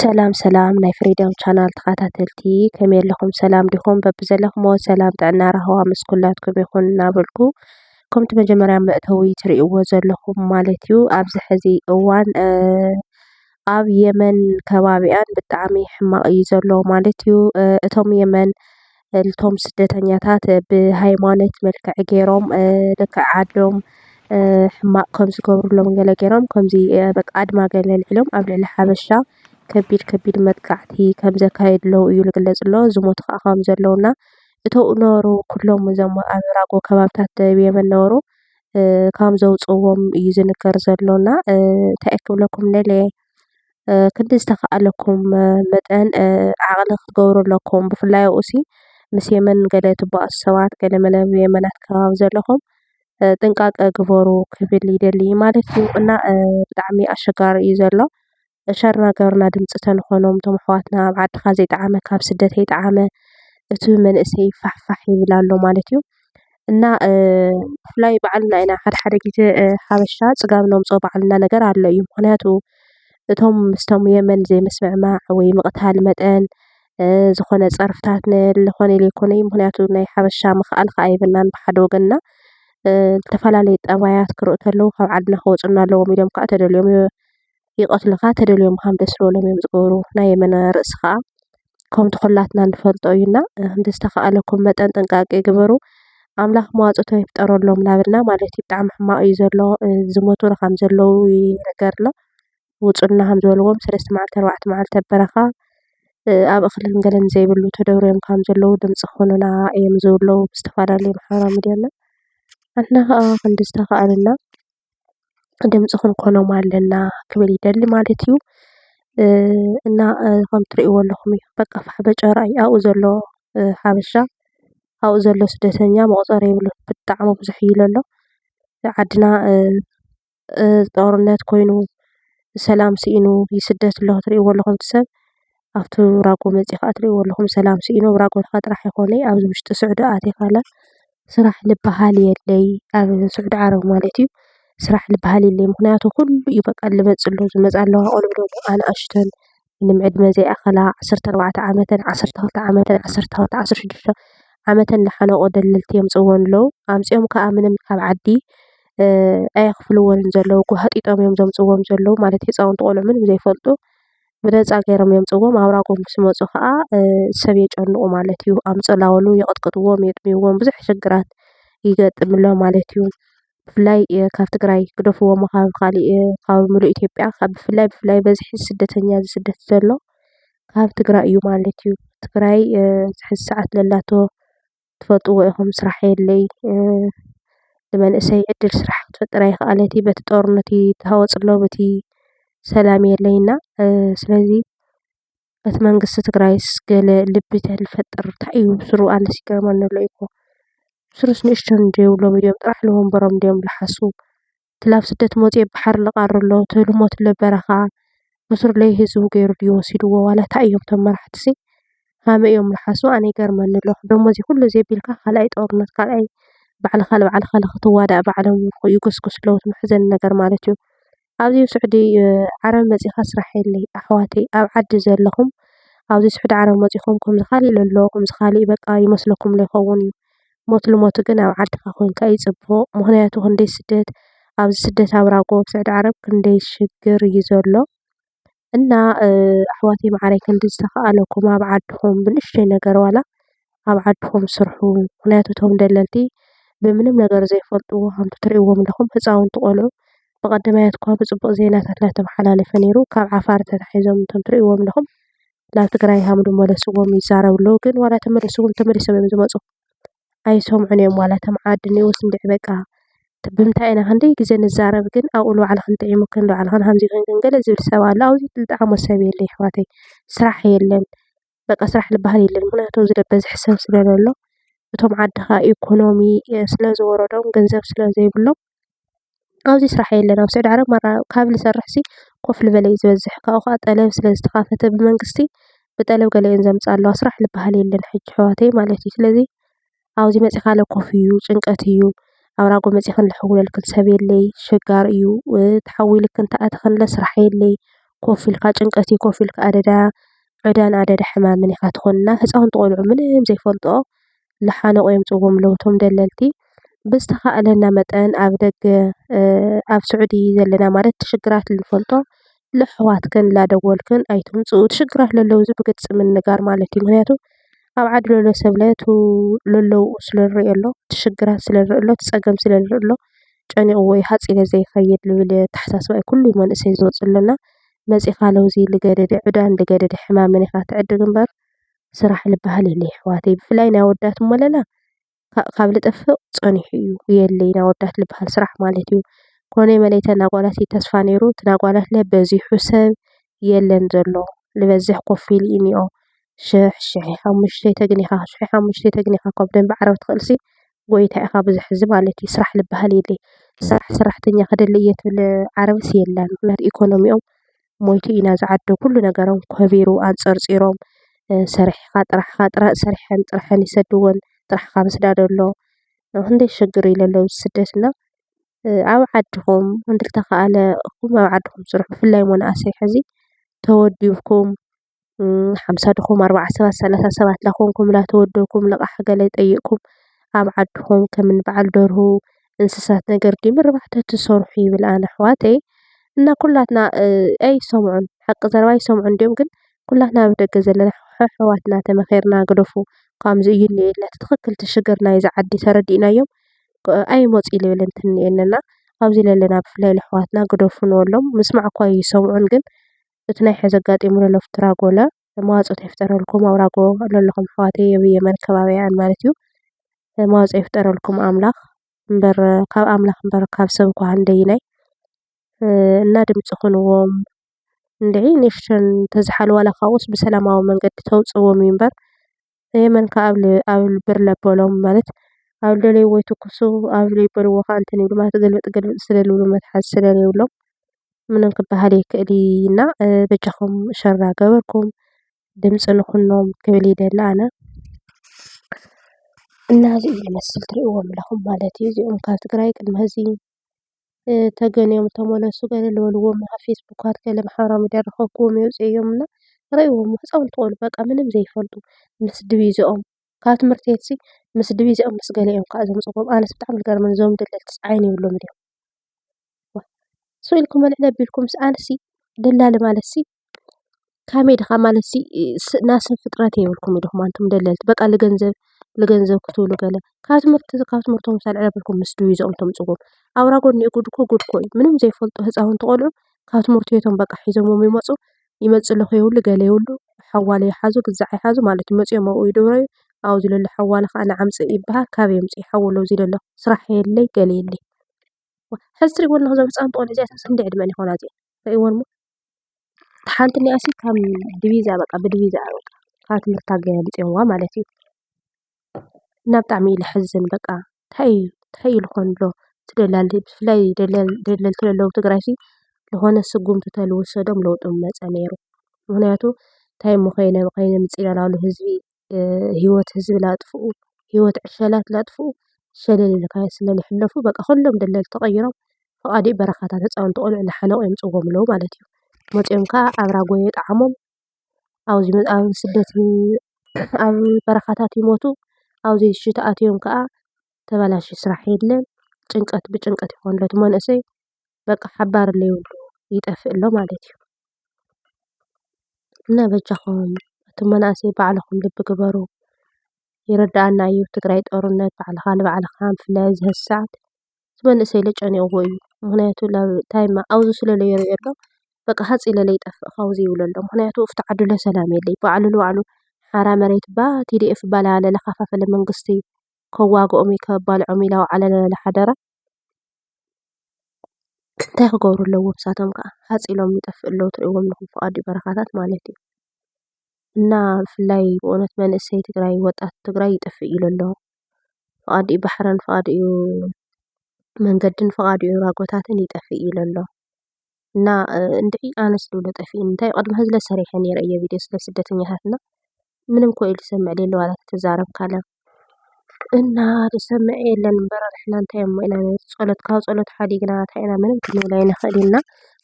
ሰላም ሰላም ናይ ፍሪደም ቻናል ተኸታተልቲ ከመይ ኣለኹም ሰላም ዲኹም? በብዘለኹሞ ሰላም ጥዕና ራህዋ ምስ ኩላትኩም ይኹን እናበልኩ ከምቲ መጀመርያ መእተዊ ትሪእዎ ዘለኹም ማለት እዩ ኣብዚ ሕዚ እዋን ኣብ የመን ከባቢኣን ብጣዕሚ ሕማቕ እዩ ዘሎ ማለት እዩ። እቶም የመን እቶም ስደተኛታት ብሃይማኖት መልክዕ ገይሮም ልክዕ ዓዶም ሕማቕ ከም ዝገብርሎም ገለ ገይሮም ከምዚ በቃ ኣድማ ገለ ኣልዒሎም ኣብ ልዕሊ ሓበሻ ከቢድ ከቢድ መጥቃዕቲ ከም ዘካየድለው እዩ ዝግለፅ ዘሎ። ዝሞቱ ከኣ ከም ዘለው እና እቶም ዝነበሩ ኩሎም እዞም ኣብ ራጎ ከባብታት ደቡብ የመን ዝነበሩ ከም ዘውፅእዎም እዩ ዝንገር ዘሎ እና እንታይ እየ ክብለኩም ደልየ? ክንዲ ዝተኸኣለኩም መጠን ዓቕሊ ክትገብሩ ኣለኩም። ብፍላይ ኣብኡ ሲ ምስ የመን ገለ ትበኣሱ ሰባት ገለ መለ ኣብ የመናት ከባቢ ዘለኹም ጥንቃቐ ግበሩ ክብል ይደሊ ማለት እዩ። እና ብጣዕሚ ኣሸጋሪ እዩ ዘሎ። ሸር እናገበርና ድምፂ ተንኾኖም እቶም ኣሕዋትና ኣብ ዓድኻ ዘይጠዓመካ ኣብ ስደት ኣይጠዓመ እቲ መንእሰይ ፋሕፋሕ ይብል ኣሎ ማለት እዩ። እና ብፍላይ በዓል ናይ ሓደ ሓደ ግዜ ሓበሻ ፅጋብ ነምፅኦ በዓል እንዳ ነገር ኣሎ እዩ። ምክንያቱ እቶም ምስቶም የመን ዘይምስምዕማዕ ወይ ምቅታል መጠን ዝኮነ ፀርፍታት ዝኮነ ዘይኮነ ምክንያቱ ናይ ሓበሻ ምክኣል ከዓ የብልናን ብሓደ ወገን እና ዝተፈላለዩ ጠባያት ክረኡ እንተለው ካብ ዓድና ክወፁና ኣለዎም ኢሎም ከዓ ተደልዮም ይቀትሉኻ ተደልዮም ምኻን በስበሎም እዮም ዝገብሩ ናይ የመና ርእሲ ኸኣ ከምቲ ዂላትና ንፈልጦ እዩና ብዝተኸኣለኩም መጠን ጥንቃቄ ግበሩ ኣምላኽ መዋጽቶ ይፍጠረሎም ናበልና ማለት እዩ ብጣዕሚ ሕማቅ እዩ ዘሎ ዝሞቱ ኸም ዘለዉ ይንገር ኣሎ ውጹልና ከም ዝበልዎም ሰለስተ መዓልቲ ኣርባዕተ መዓልቲ ኣብ በረኻ ኣብ እኽልን ገለን ዘይብሉ ተደብርዮም ከም ዘለዉ ድምጺ ኹንና እዮም ዝብሉ ብዝተፋላለዩ ማሕበራዊ ሚድያ እና ኣንሕና ኸኣ ክንዲ ዝተኻኣለና ድምፂ ክንኮኖም ኣለና ክብል ይደሊ ማለት እዩ፡፡ እና ከም እትሪእዎ ዘለኹም እዩ፡፡ በቃ ፋሕ በጨራ እዩ፡፡ ኣብኡ ዘሎ ሓበሻ ኣብኡ ዘሎ ስደተኛ መቑፀርያ የብሉን፡፡ ብጣዕሚ ብዙሕ እዩ ለሎ፡፡ ዓድና ጦርነት ኮይኑ ሰላም ስኢኑ ይስደት ኣሎ፡፡ እትሪእዎ ዘለኹም እቲ ሰብ፡፡ ኣብቲ ራጎ መፂኡ ከዓ እትሪእዎ ዘለኹም ሰላም ስኢኑ ኣብ ራጎ ጥራሕ እንተኾይኑ ኣይኾነይ ኣብ ውሽጢ ስዑዲ ኣቲኻ ስራሕ ልበሃል የለይ። ኣብ ስዑዲ ዓረብ ማለት እዩ። ስራሕ ልበሃል የለይ ምኽንያቱ ኩሉ እዩ በቃ ልመፅእ ዘሎ ዝመፃ ኣለዋ ቆልዑ ደሞ ኣናእሽተን ምንም ዕድመ ዘይኣኸላ ዓሰርተ ኣርባዕተ ዓመተን ዓሰርተ ክልተ ዓመተን ዓሰርተ ክልተ ዓሰርተ ሽዱሽተ ዓመተን ዝሓለቆ ደለልቲ የምፅእወን ኣለው። ኣምፂኦም ከዓ ምንም ካብ ዓዲ ኣየኽፍልወንን ዘለው ጓሃጢጦም እዮም ዘምፅእዎም ዘለው ማለት ህፃውንቲ ቆልዑ ምንም ዘይፈልጡ ብነፃ ገይሮም የምፅእዎም ኣብራ ጎንብስ መፁ ኸዓ ሰብ የጨንቑ ማለት እዩ ኣምፅላወሉ የቕጥቅጥዎም የጥምይዎም ብዙሕ ሽግራት ይገጥምሎ ማለት እዩ ብፍላይ ካብ ትግራይ ግደፍዎ እሞ ኻብ ኻሊእ ኻብ ምሉእ ኢትዮጵያ ኻብ ብፍላይ ብፍላይ በዝሒ ስደተኛ ዝስደድ ዘሎ ካብ ትግራይ እዩ ማለት እዩ ትግራይ ዝሕዚ ሰዓት ለላቶ ትፈልጥዎ ኢኹም ስራሕ የለይ ንመንእሰይ ዕድል ስራሕ ክትፈጥር ኣይክኣለት እያ በቲ ጦርነት ይተሃወፅ ኣሎ በቲ ሰላም የለይ እና ስለዚ በቲ መንግስቲ ትግራይስ ገለ ልቢ ተዝፈጥር ታይ እዩ ስሩህ ኣነስ ይገርመኒ ኣሎ እኮ ስሩስ ንእሽተይ ዘይብሎም እዮም ጥራሕ ንወንበሮም ድዮም ዝሓስቡ። ትላብ ስደት ሞጺኤ ብሓር ልቃሪ ኣሎ ትልሞት ኣሎ በረኻ ብሱሩለይ ህዝቡ ገይሩ ድዩ ወሲድዎ ዋላ ታይ እዮም እቶም መራሕትሲ ሃመይ እዮም ልሓሱ ኣነ ይገርመኒ ኣሎ ደሞዚ ኩሉ ዘቢልካ ካልኣይ ጦርነት ካልኣይ ባዕልኻ ልባዕልኻ ልኽትዋዳእ ባዕሎም ይጉስጉሱ ኣለዉ እቲ መሕዘኒ ነገር ማለት እዩ ኣብዚ ስዑዲ ዓረብ መጺኻ ስራሕ የለይ ኣሕዋተይ ኣብ ዓዲ ዘለኹም ኣብዚ ስዑዲ ዓረብ መጺኹም ከምዚ ካልእ ኢሉ ኣሎ ከምዚ ካልእ በቃ ይመስለኩም ዶ ይከዉን እዩ ሞት ልሞቱ ግን ኣብ ዓድካ ኮይንካ እዩ ፅቡቅ ምክንያቱ ክንደይ ስደት ኣብዚ ስደት ኣብራጎ ኣብ ስዑዲ ዓረብ ክንደይ ሽግር እዩ ዘሎ እና ኣሕዋተይ ማዓረይ ክንዲ ዝተካኣለኩም ኣብ ዓድኩም ብንእሽተይ ነገር ዋላ ኣብ ዓድኩም ስርሑ ምክንያቱ እቶም ደለልቲ ብምንም ነገር ዘይፈልጥዎ ከምቲ ትሪእዎም ዘለኩም ህፃውንቲ ቆልዑ ብቀዳማይ እኳ ብፅቡቅ ዜናታት እናተማሓላለፈ ነይሩ ካብ ዓፋር ተታሒዞም እቶም ትሪእዎም ዘለኩም ናብ ትግራይ ሃም ንመለስዎም ይዛረቡ ኣለዉ ግን ዋላ ተመሊስዎም ተመሊሶም እዮም ዝመፁ ኣይሰምዑን እዮም ዋላ እቶም ዓዲ እንሄዉ ስምብዕ በቃ ብምንታይ ኢና ክንደይ ግዘ ንዛረብ ግን ኣብኡ ንባዕልኽን ጥዒሙክን ንባዕልኽን ሃምዚ ኮይንክን ገለ ዝብል ሰብ ኣሎ ኣብዚ ዝጠዓሞ ሰብ የለን የሕዋተይ ስራሕ የለን በቃ ስራሕ ልበሃል የለን ምኽንያቱ ኣብዚ ዝበዝሕ ሰብ ስለ ዘሎ እቶም ዓድኻ ኢኮኖሚ ስለ ዝወረዶም ገንዘብ ስለ ዘይብሎም ኣብዚ ስራሕ የለን ኣብ ስዑዲ ዓረብ ማራ ካብ ዝሰርሕ ሲ ኮፍ ልበለ እዩ ዝበዝሕ ካብኡ ከኣ ጠለብ ስለ ዝተካፈተ ብመንግስቲ ብጠለብ ገለ እየን ዘምጽኣ ኣለዋ ስራሕ ልበሃል የለን ሕጂ ኣሕዋተይ ማለት እዩ ስለዚ ኣብዚ መጺካ ኣለ ኮፍ እዩ ጭንቀት እዩ ኣብ ራጎ መጺኪ ኣለ ክሕውለልክን ሰብ የለይ ኣሸጋሪ እዩ ተሓዊልክን ተኣትክን ኣለ ስራሕ የለይ ኮፍ ኢልካ ጭንቀት እዩ ኮፍ ኢልካ ኣደዳ ዕዳን ኣደዳ ሕማምን ኢካ ትኮን እና ህጻዉንቲ ቆልዑ ምንም ዘይፈልጥኦ ልሓንቑ የምፅእዎ ኣለዉ እቶም ደለልቲ። ብዝተኻእለና መጠን ኣብ ደገ ኣብ ስዑዲ ዘለና ማለት እቲ ሽግራት እንፈልጦ ለኣሕዋትክን ላደወልክን ኣይትምፅኡ እቲ ሽግራት ለለዉ እዚ ብግልፂ ምንጋር ማለት እዩ። ምክንያቱ ኣብ ዓዲ ለሎ ሰብ ለቱ ለለዉ ስለ ዝሪኦ ኣሎ እቲ ሽግራት ስለ ዝሪኦ ኣሎ እቲ ፀገም ስለ ዝሪኦ ኣሎ ጨኒቕዎ እዩ ሃፂለ ዘይኸይድ ዝብል ኣተሓሳስባ እዩ ኩሉ መንእሰይ ዝወፅእ ዘሎ እና መፂእኻ ለዉዚ ልገደደ ዕዳን ልገደደ ሕማምን ኢኻ ትዕድግ እምበር። ስራሕ ልባሃል የለ ይሕዋተይ ብፍላይ ናይ ኣወዳት እሞ ለለ ካብ ልጥፍእ ጸኒሑ እዩ የለይ ናይ ኣወዳት ልባሃል ስራሕ ማለት እዩ ኮነ መለ እቲ ናይ ኣጓላት እዩ ተስፋ ነይሩ እቲ ናይ ኣጓላት ለ በዚሑ ሰብ የለን ዘሎ ልበዝሕ ኮፍ ኢሉ እዩ ዝንኦ ሽሕ ሽሕ ኢኻ እሞ ሽተይ ተግኒኻ ሽሕ ኢኻ እሞ ሽተይ ተግኒኻ እኳ ብደንቢ ዓረብ ትኽእልሲ ጎይታ ኢኻ ብዙሕ ሕዚ ማለት እዩ ስራሕ ልባሃል የለይ ስራሕ ሰራሕተኛ ክደሊ እየ ትብል ዓረብስ የላን ምኽንያቱ ኢኮኖሚኦም ሞይቱ ኢና ዝዓዱ ኩሉ ነገሮም ከቢሩ ኣንጸርጺሮም ሰሪሕኻ ጥራሕኻ ሰሪሐን ጥረሐን ይሰድወን ጥራሕኻ ምስዳድ ኣሎ ክንደይ ሽግር ኢዩ ለሎ ኣብዚ ስደት እና ኣብ ዓድኹም እንተተኻእለ ኣብ ዓድኹም ስርሑ ብፍላይ መናእሰይ ሕዚ ተወዲብኩም ሓምሳ ድኹም ኣርባዓ ሰባት ሰላሳ ሰባት ላኾንኩም ላተወደኩም ልቓሕ ገለ ጠይቕኩም ኣብ ዓድኹም ከም እኒ በዓል ደርሁ እንስሳት ነገር ድዩ ምርባሕ ተትሰርሑ ይብል ኣነ ኣሕዋተይ እና ኩላትና ኣይሰምዑን ሓቂ ዘረባ ኣይሰምዑን ድዮም ግን ኩላትና ኣብ ደገ ዘለና ኣሕዋትና ተመኺርና ግደፉ ከምዚ እዩ እኒኦ ኢልና እቲ ትኽኽል እቲ ሽግር ናይዛ ዓዲ ተረዲእናዮም ኣይመፁ ልብል እንተኒኤኒ እና ኣብዚ ለለና ብፍላይ ለኣሕዋትና ግደፉ ንበሎም ምስማዕ እኳ ይሰምዑን ግን እቲ ናይ ሐዚ ኣጋጢሙ ለሎ ፍትራጎለ መዋፅኦት ኣይፍጠረልኩም ኣብራጎ ለለኹም ኣሕዋተይ የብይ የመን ከባቢኣን ማለት እዩ መዋፅኦ ይፍጠረልኩም ኣምላኽ እምበር ካብ ኣምላኽ እምበር ካብ ሰብ እኳ ክንደይናይ እና ድምፂ ኹንዎም እንድዒ ንእሽተን ተዝሓልዋ ዋላ ካብኡስ ብሰላማዊ መንገዲ ተውፅእዎም እዩ እምበር ንየመን ከኣ ኣብ ብርለ ኣበሎም ማለት ኣብ ዝደለይዎ ይትኩሱ ኣብ ዘይበልዎ ከኣ እንትን ይብሉ ማለት ግልብጥ ግልብጥ ስለ ዝብሉ መትሓዚ ስለ ዘይብሎም ምንም ክበሃል ኣይክእልይ እና በጃኹም ሸር እናገበርኩም ድምፂ ንኹኖም ክብል ይደሊ ኣነ። እና እዚ እዩ ዝመስል ትሪእዎም ኣለኹም ማለት እዩ። እዚኦም ካብ ትግራይ ቅድሚ ሀዚ። ተገንዮም ተመለሱ ገለ ዝበልዎም ኣብ ፌስቡካት ገለ ማሕበራዊ ሚድያ ዝረኸብክዎም ይወፅኡ እዮም እና ርእይዎ እሞ ህፃውንቲ ቆልዑ በቃ ምንም ዘይፈልጡ ምስ ድቪዘኦም ካብ ትምህርቲ ቤትሲ ምስ ድቪዘኦም ምስ ገለ እዮም ከዓ ዘምፅእዎም ኣነስ ብጣዕሚ እዩ ዝገርመኒ እዞም ደለልትስ ዓይኒ የብሎምን ድዮም ዋእ ስቅ ኢልኩም ምዕድ ኣቢልኩምስ ኣነሲ ደላሊ ማለትሲ ከመይ ድካ ማለት እዚ ናይ ሰብ ፍጥረት የብልኩም ዲኩም ኣንቱም ደለልቲ በቃ ልገንዘብ ልገንዘብ ክትብሉ ገለ ካብ ትምህርቲ ካብ ትምህርቶም ምስ ኣልዕለኩምኩም ምስ ድቪዛ ተምጽእዎም ኣውራ ጎኒ ጉድ እኮ ጉድ እኮ እዩ ምንም ዘይፈልጡ ህጻውንቲ ቆልዑ ካብ ትምህርቲ ቤቶም በቃ ሒዞምዎም ይመጹ ይመጽ ኣለኩ ይብሉ ገለ ይብሉ ሓዋለ ይሓዙ ግዛዕ ይሓዙ ማለት እዩ መጺኦም ኣብኡ ይድብረዩ ኣብዚ ለሎ ሓዋለ ከኣ ነዓ ኣምጽ ይብሃል ካበይ የምጽ ሓወለ ኣብዚ ለሎ ስራሕ የለይ ገለ የለይ ሕዚ ትርእይዎ ዘለኩም እዞም ህጻውንቲ ቆልዑ እዚኣቶምስ ክንደይ ዕድመኣን ይኮና እዚኤን ትርእይዎን እሞ። ሓንቲ ኒኣስ ከም ድቢዛ በቓ ብድቢዛ በቓ ኻብ ትምህርት ኣገሊጽዋ ማለት እዩ እና ብጣዕሚ እዩ ለሕዝን በቃ ታይ ታይ ልኾን ዶ ትደላሊ ብፍላይ ደለልቲ ለለዉ ትግራይ ልኾነ ስጕምቲ ተልወሰዶም ለዉጢ ምመጸ ነይሩ ምኽንያቱ ታይ እሞ ኸይነ ኸይነ ምጺለላሉ ህዝቢ። ሂወት ህዝቢ ላጥፍኡ ሂወት ዕሸላት ላጥፍኡ ሸለል ኢልካ ስለልሕለፉ በቃ ኩሎም ደለልቲ ቀይሮም ፍቓድኡ በረኻታት ህፃውንቲ ቆልዑ ላሓለቑ የምፅእዎም ኣለው ማለት እዩ። መፅዮም ካዓ ኣብ ራጎ የጥዓሞም ኣብዚ ኣብ ስደት ኣብ በረኻታት ይሞቱ ኣብዚ ውሽጢ ተኣትዮም ካዓ ተባላሽዩ ስራሕ የለን ጭንቀት ብጭንቀት ይኾኑ ኣለው እቲ መንእሰይ። በቃ ሓባሪ ለይብሉ ይጠፍእ ኣሎ ማለት እዩ። እና በጃኹም ኣቱም መናእሰይ ባዕልኹም ልቢ ግበሩ። ይርደኣና እዩ ኣብ ትግራይ ጦርነት ባዕልኻ ንባዕልኻ ብፍላይ ኣብዚ ሐዚ ሰዓት እቲ መንእሰይ ለ ጨኒቕዎ እዩ። ምኽንያቱ እንታይ እማ ኣብዚ ስለ ለይሪኦ ኣሎ በቃ ሃፅ ኢለ ለይጠፍእ ካብዚ ይብሎ ኣሎ። ምኽንያቱ ኣብቲ ዓዱ ለ ሰላም የለይ ባዕሉ ንባዕሉ ሓራ መሬት እባ TDF እባ ለከፋፈለ መንግስቲ ከዋግኦም እዩ ከባልዖም እዩ ላበዓለ ለለ ሓደራ። እንታይ ክገብሩ ኣለዎም ንሳቶም ከ ሃፀ ኢሎም ይጠፍኡ ኣለዉ ትሪእዎም ኣለኹም ፍቓድኡ በረኻታት ማለት እዩ እና ብፍላይ ብእውነት መንእሰይ ትግራይ ወጣት ትግራይ ይጠፍእ ኢሉ ኣሎ ፍቓድኡ ባሕርን ፍቓድኡ መንገድን ፍቓድኡ ራጎታትን ይጠፍእ ኢሉ ኣሎ። እና እንድዒ ኣነስ ልብሎ ጠፊኡኒ እንታይ እዩ ቅድሚ ሐዚ ለ ሰሪሐ ነይረ እየ ቪድዮ ስለ ስደተኛታት እና ምንም እኮ ኢሉ ዝሰምዕ ለሎ ዋላ ተተዛረብ ካለ እና ዝሰምዕ የለን እምበር ንሕና እንታይ እሞ ኢና ንብል ጸሎት ካብ ጸሎት ሓዲግና እንታይ ኢና ምንም ክንብል ኣይንኽእልን እና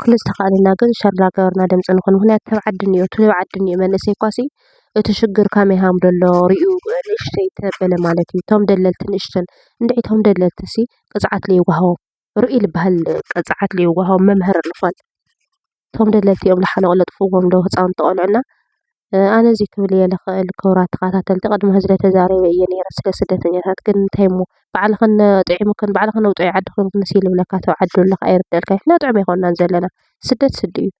ኩሉ ዝተኻእለና ግን ሸር እናገበርና ድምፂ ንኹን ምኽንያቱ ተብ ዓዲ እኒኦ እቲ ኣብ ዓዲ እኒኦ መንእሰይ እኳሲ እቲ ሽግር ከመይ ሃም ደሎ ሪኡ ንእሽተይ ተበለ ማለት እዩ እቶም ደለልቲ ንእሽተን እንድዒ እቶም ደለልትሲ ቅፅዓት ለይወሃቦም ርኡይ ልበሃል ቅፅዓት ልወሃቦም መምህር ልኾን እቶም ደለይቲ እዮም ልሓንቑ ለጥፍዎም ዶ ህፃውንቲ ቆልዑ እና ኣነ እዙይ ክብል እየ ልኽእል ክቡራት ተኸታተልቲ ቅድሚ ሕዚ ተዛሪበ እየ ነይረ ስለ ስደተኛታት ግን እንታይ እሞ ባዕልኽን ጥዒሙክን ባዕልኽን ውፃኢ ዓዲ ኮይንክንስ ይልብለካ ተው ዓዲ ዘለካ ኣይርደልካ ንሕና ጥዑም ኣይኮናን ዘለና ስደት ስዲ እዩ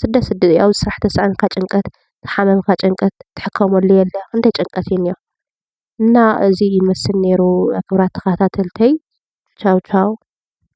ስደት ስዲ እዩ ኣብዚ ስራሕ ተሳኣንካ ጭንቀት ተሓመምካ ጭንቀት ትሕከመሉ የለ ክንደይ ጭንቀት እዩ እኒኦ። እና እዚ ይመስል ነይሩ ክብራት ተኸታተልተይ ቻው ቻው።